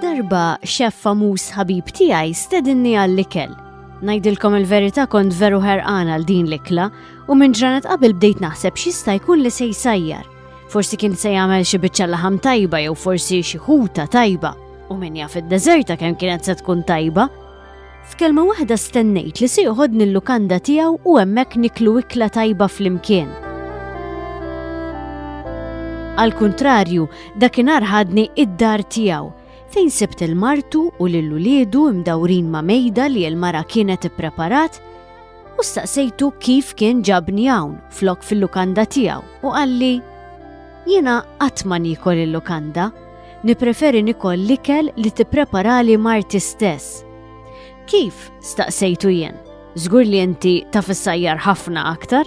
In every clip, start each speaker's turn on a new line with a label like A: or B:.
A: Darba xef famuż ħabib tiegħi stedinni għall-ikel. Ngħidilkom il-verità kont veru ħerqan għal din l-ikla u minn ġranet qabel bdejt naħseb x'jista' jkun li se jsajjar. Forsi kien se jagħmel xi biċċa laħam tajba jew forsi xi ħuta tajba u min jaf id-deżerta kemm kienet se tkun tajba F'kelma waħda stennejt li se joħodni l-lukanda tiegħu u hemmhekk niklu ikla tajba flimkien. Al kuntrarju, dakinhar ħadni id-dar tiegħu fejn sibt il-martu u lil uliedu imdawrin ma' mejda li l-mara kienet ippreparat u staqsejtu kif kien ġabni hawn flok fil-lukanda tiegħu u qalli Jiena qatt ma niekol il-lukanda, nippreferi nikol l-ikel li tippreparali marti stess. Kif? staqsejtu jien. Żgur li inti taf issajjar ħafna aktar?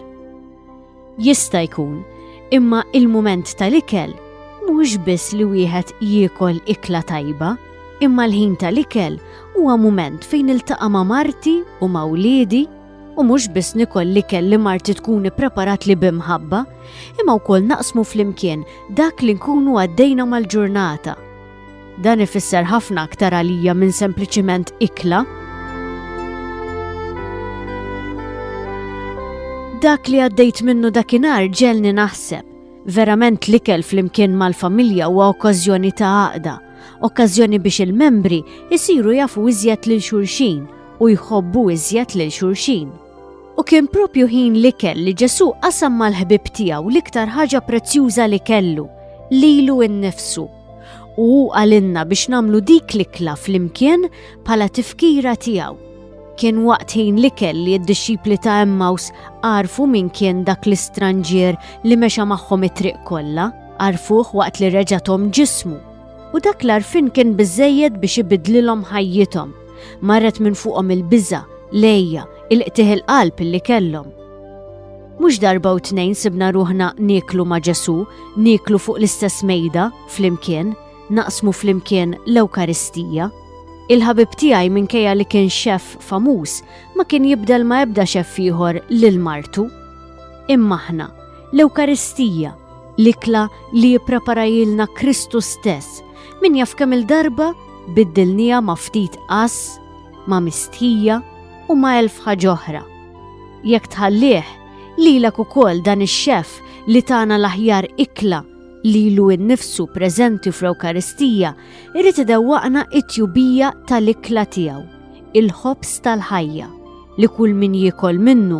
A: Jista' jkun, imma il-mument tal-ikel mhux biss li wieħed jiekol ikla tajba, imma l-ħin tal-ikel huwa mument fejn iltaqa' ma' marti u ma' wliedi u mhux biss nikol li kelli marti tkun ippreparat li bimħabba, imma wkoll naqsmu flimkien dak li nkunu għaddejna mal-ġurnata. Dan ifisser ħafna aktar għalija minn sempliċiment ikla. Dak li għaddejt minnu dakinhar ġelni naħseb. Verament l-ikel flimkien mal-familja huwa okkażjoni ta' għaqda, okkażjoni biex il-membri jisiru jafu iżjed lil xulxin u jħobbu iżjed lil xulxin. U kien propju ħin li kell li Ġesu qasam mal-ħbib tiegħu l-iktar ħaġa prezzjuża li kellu, lilu innifsu. U hu għalinna biex namlu dik li kla fl-imkien pala tifkira tiegħu. Kien waqt ħin li kell li d-dixxipli ta' Emmaus għarfu min kien dak l-istranġier li mexa magħhom it-triq kollha, għarfuh waqt li reġatom ġismu. U dak l-arfin kien biżejjed biex ibidlilhom ħajjithom Marret minn fuqhom il-biża, lejja, il-qtih il-qalb li kellhom. Mhux darba u tnejn sibna ruħna nieklu ma' Ġesu, nieklu fuq l-istess mejda, flimkien, naqsmu flimkien l-Ewkaristija. Il-ħabib tiegħi minkejja li kien xef famuż ma kien jibdel ma ebda xef ieħor lil martu. Imma aħna, l-Ewkaristija, l-ikla li jippreparajilna Kristu stess, min jaf kemm il-darba biddilniha ma' ftit għażż, ma' mistħija u ma' elf ħaġa oħra. Jekk tħallih, lilek ukoll dan ix-Xef li tana l-aħjar ikla li ilu innifsu preżenti fl-Ewkaristija jrid idewwaqna t-tjubija tal-ikla tiegħu, il-ħobż tal-ħajja, li kull min jiekol minnu